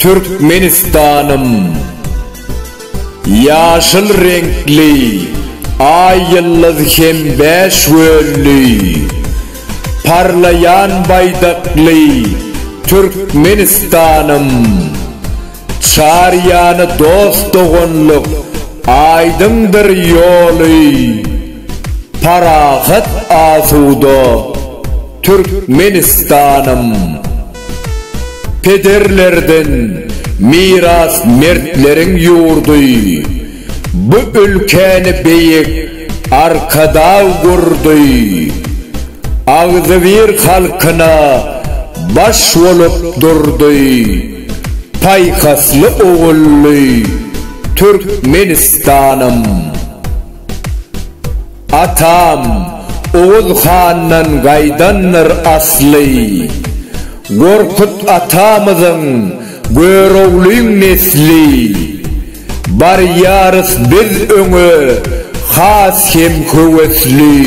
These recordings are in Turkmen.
Türkmenistanym Ýaşyl reňkli Aý ýyldyz hem bäş gölli Parlaýan baýdakly Türkmenistanym. Çar ýany dost-doganlyk, aýdyňdyr ýoly, Parahat asuda Türkmenistanym. Pederlerden miras mertleriň ýurdy, Bu ülkäni beýik Arkadag gurdy. Agzybir halkyna baş bolup durdy. Paýhasly ogully Türkmenistanym! Atam Oguz handan gaýdandyr asly. Gorkut atamyzyň Göroglyň nesli. Barýarys biz öňe has hem höwesli.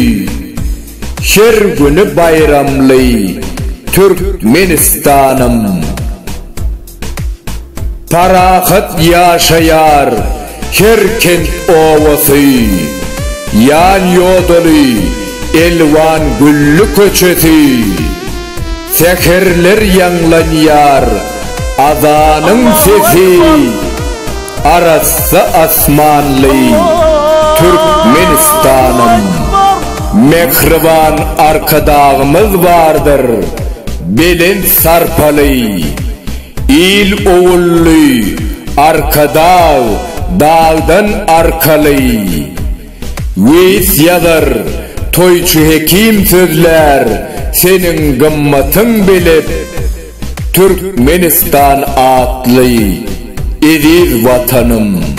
Her güni baýramly Türkmenistanym. Parahat ýaşaýar her kent obasy, Ýan-ýodaly elwan gülli köçesi. Säherler ýaňlanýar azanyň sesi, Arassa asmanly Türkmenistanym. Mähriban Arkadagymyz bardyr, belent sarpaly, Il-ogully Arkadag dagdan arkaly. Neýis ýazar, toýçy hekim sözlär, Seniň gymmatyň belet, Türkmenistan atly eziz Watanym!